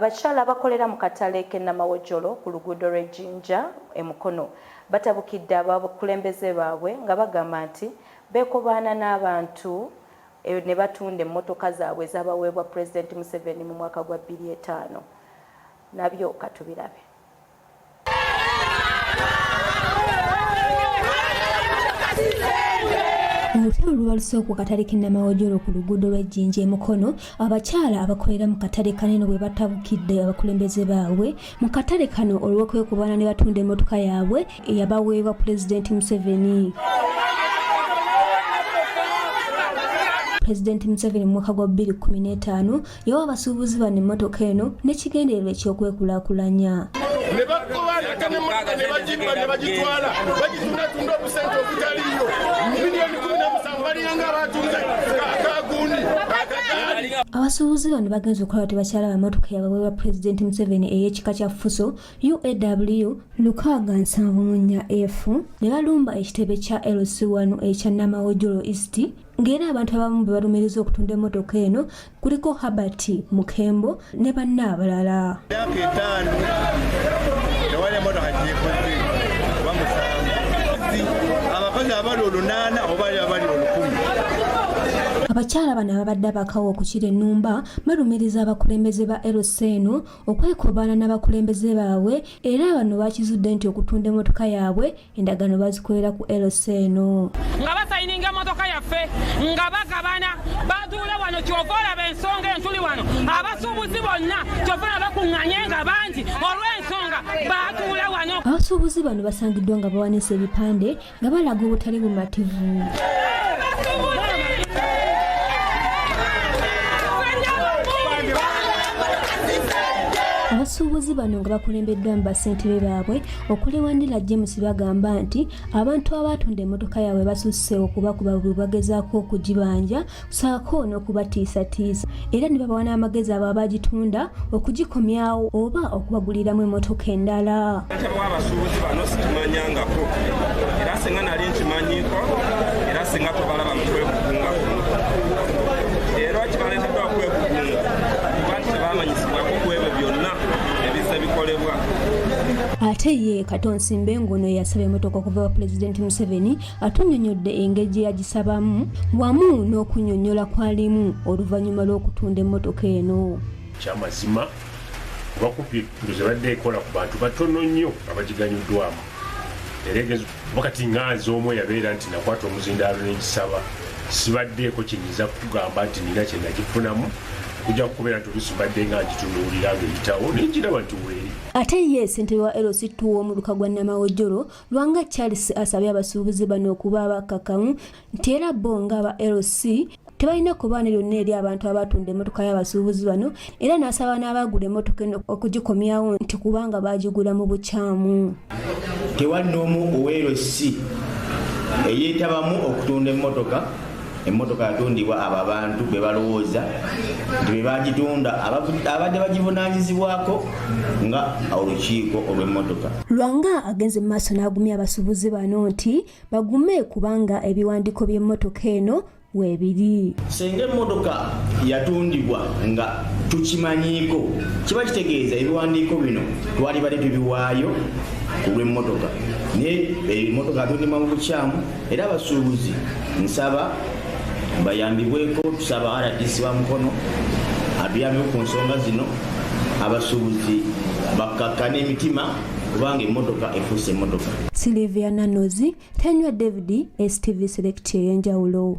Abakyala abakolera mu katale k'e Namawojjolo ku luguudo lw'e Jinja e Mukono batabukidde abakulembeze baabwe nga bagamba nti beekobaana n'abantu ne batunda emmotoka zaabwe ezaabaweebwa Pulezidenti Museveni mu mwaka gwa bbiri etaano. Nabyo ka tubirabe. olutalo lubalusewo ku katale k'ennamawojolo ku luguudo lw'ejjinja e mukono abakyala abakolera mu katale kanene bwe batabukidde abakulembeze baabwe mu katale kano olw'okwekubaana ne batunda emmotoka yaabwe eyabaweebwa pulezidenti museveni pulezidenti museveni mu mwaka gwa 2015 yawa abasuubuzi bano emmotoka eno n'ekigendererwa eky'okwekulaakulanya ne bagoba ate n'emmotoka ne bagimba ne bagitwala bagitundatunda obusente obutaliyo miliyoni kumi na musanvu baliyanga abatunze akagundi akagaali abasuubuzi bano bagenze okulaba tebakyala bamotoka yababwe ba pulezidenti museveni ey'ekika kya fuso uaw lukaaga nsanvu munya efu ne balumba ekitebe kya lc1 ekya namawojolo east ng'era abantu abamu be balumiriza okutunda emmotoka eno kuliko herbert mukembo ne banna abalala myaka etaano tewali emmotoka gyekoze oba musanvu abakozi abali olunaana oba ali abali olukumi abakyala bano ababadde abakawo okukira ennumba balumiriza abakulembeze ba lc eno okwekobaana n'abakulembeze baabwe era bano bakizudde nti okutunda emmotoka yaabwe endagaano bazikolera ku lc eno nga basayininga emotoka yaffe nga bagabana batuule wano kyova olaba ensonga entuli wano abasuubuzi bonna kyova olaba bakuŋŋanye nga bangi olw'ensonga batuula wano abasuubuzi bano basangiddwa nga bawanisa ebipande nga balaga obutali bumativu abasuubuzi bano nga bakulembeddwa mu basentebe baabwe okuli wanila james bagamba nti abantu abaatunda emmotoka yaabwe basusse okuba kuba bwe bagezaako okugibanja saako n'okubatiisatiisa era ne babawa n'amagezi abo abagitunda okugikomyawo oba okubaguliramu emmotoka endala abasuubuzi bano sikimanyangako era singa nali nkimanyiko era singa tobalaba mukwekukunga era kibaleteddwa kwekukunga kuba nti tebamanyisibwako ku ebyo byonna ebize bikolebwa ate ye kato nsimbe ng'ono yasaba emotoka okuva wa pulezidenti museveni atunyonyodde engeri gye yagisabamu wamu n'okunyonyola kwalimu oluvannyuma lw'okutunda emmotoka eno kyamazima bakubye ndozi badde ekola ku bantu batono nnyo abagiganyuddwamu wakati nga nze omu eyabeera nti nakwata omuzindaalo n'egisaba sibaddeeko kyenyiza kugamba nti nina kyenagifunamu kujja kukubeera nti olusi mbadde nga ngitunuulira nga eyitawo naye nkiraba nti weeri ate ye ssentebe wa lc tuwa omuluka gwa namawojjolo lwanga charles asabye abasuubuzi bano okuba abakkakkamu nti era bo nga aba LC tebalina kubaana lyonna eri abantu abatunda emmotoka y'abasuubuzi bano era n'asaba n'abaagula emmotoka eno okugikomyawo nti kubanga baagigula mu bukyamu tewali n'omu oweerossi eyeetabamu okutunda emmotoka emmotoka yatundibwa abo abantu be balowooza nti be bagitunda abadde bagivunaanyizibwako nga olukiiko olw'emmotoka lwanga agenze mu maaso n'agumya abasuubuzi bano nti bagume kubanga ebiwandiiko by'emmotoka eno webiri senga emmotoka yatundibwa nga tukimanyiiko kiba kitegeeza ebiwandiiko bino twali bali tubiwaayo ku lw'emmotoka naye emmotoka eh, atundima mu bukyamu era abasuubuzi nsaba bayambibweko tusaba rdc wa mukono atuyambeko ku nsonga zino abasuubuzi bakkakkana emitima kubanga emmotoka efuuse emmotoka. Sylvia Nanozi tanywa David STV Select ey'enjawulo.